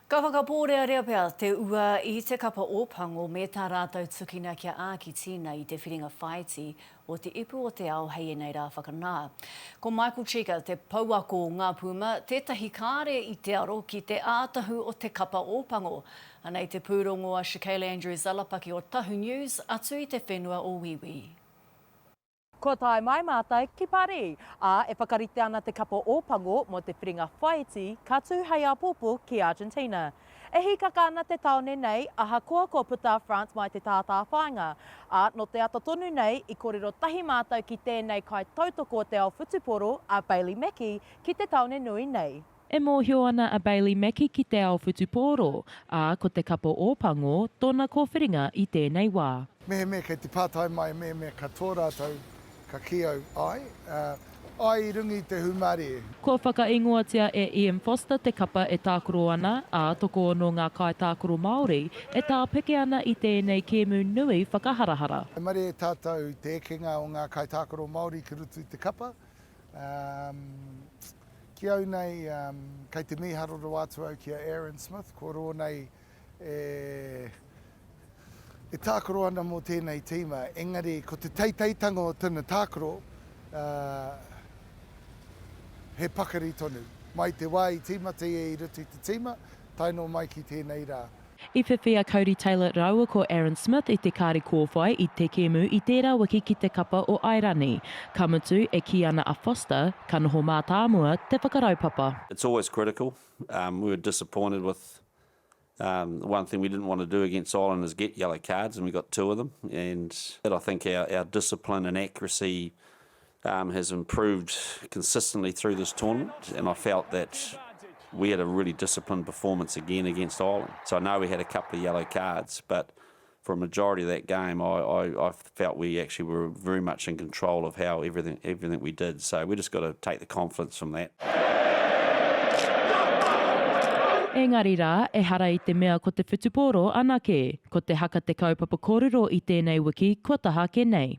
Ka whakapōrearea pea te ua i te kapa o Pango me tā rātou tukina kia āki tīna i te whiringa whāiti o te ipu o te ao hei ēnei rā whakanā. Ko Michael Cheika, te pouako o Ngā Puma, tētahi kāre i te aro ki te ātahu o te kapa o Pango. Ana i te pūrongo a Shekayla Andrews-Alapaki o Tahu News atu i te whenua o Wīwī. Kua tae mai mātou ki Parī, ā, e whakarite ana te kapa Ōpango mō te whiringa whaiti ka tū hei āpōpō ki Argentina. E hīkaka ana te tāone nei, ahakoa kua puta a France mai te tātāwhāinga, ā, nō te ata tonu nei i kōrero tahi mātou ki tēnei kaitautoko o te ao whutupōro a Bailey Mackie ki te tāone nui nei. E mōhio ana a Bailey Mackie ki te ao whutupōro, ā, ko te kapa Ōpango tōna kōwhiringa i tēnei wā. Mehemea kei te pātai mai mehemea katoa rātou ka kī au, āe, ā, āe i runga i te hūmārē. Kua whakaīngoatia e Ian Foster te kapa e tākaro ana, ā, tokoono ngā kaitākaro Māori e tāpeke ana i tēnei kēmu nui whakaharahara. He mahere tātou i te ekenga o ngā kaitākaro Māori ki roto i te kapa. Um, ki au nei, um, kei te mīharo rawa atu au ki a Aaron Smith, ko rō nei e, e tākaro ana mō tēnei tīma, engari ko te teiteitanga o tana tākaro, uh, he pakari tonu. Mai te wā i tīmata ia i roto i te tīma, tae noa mai ki tēnei rā. I whiwhi a Cody Taylor rāua ko Aaron Smith i te kāri kōwhai i te kēmu i tērā wiki ki te kapa o Airani. Ka mutu, e kī ana a Foster, ka noho mātāmua te whakaraupapa. It's always critical. We were disappointed with one thing we didn't want to do against Ireland is get yellow cards and we got two of them and that I think our discipline and accuracy has improved consistently through this tournament and I felt that we had a really disciplined performance again against Ireland. So I know we had a couple of yellow cards, but for a majority of that game, I, I, I felt we actually were very much in control of how everything everything we did. So we just got to take the confidence from that. Engari rā, ehara i te mea ko te whutupōro anake. Ko te haka te kaupapa kōrero i tēnei wiki kua taha ake nei.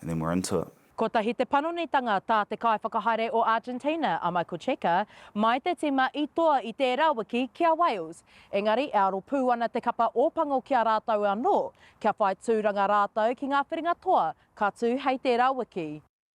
and then we're into it. Kotahi te panonitanga tā te kaiwhakahaere o Argentina, a Michael Cheika, mai te tīma i toa i tērā wiki ki a Wales. Engari, e aro pū ana te kapa Ōpango ki a rātou anō, kia whai tūranga rātou ki ngā whiringa toa ka tū hei tērā wiki.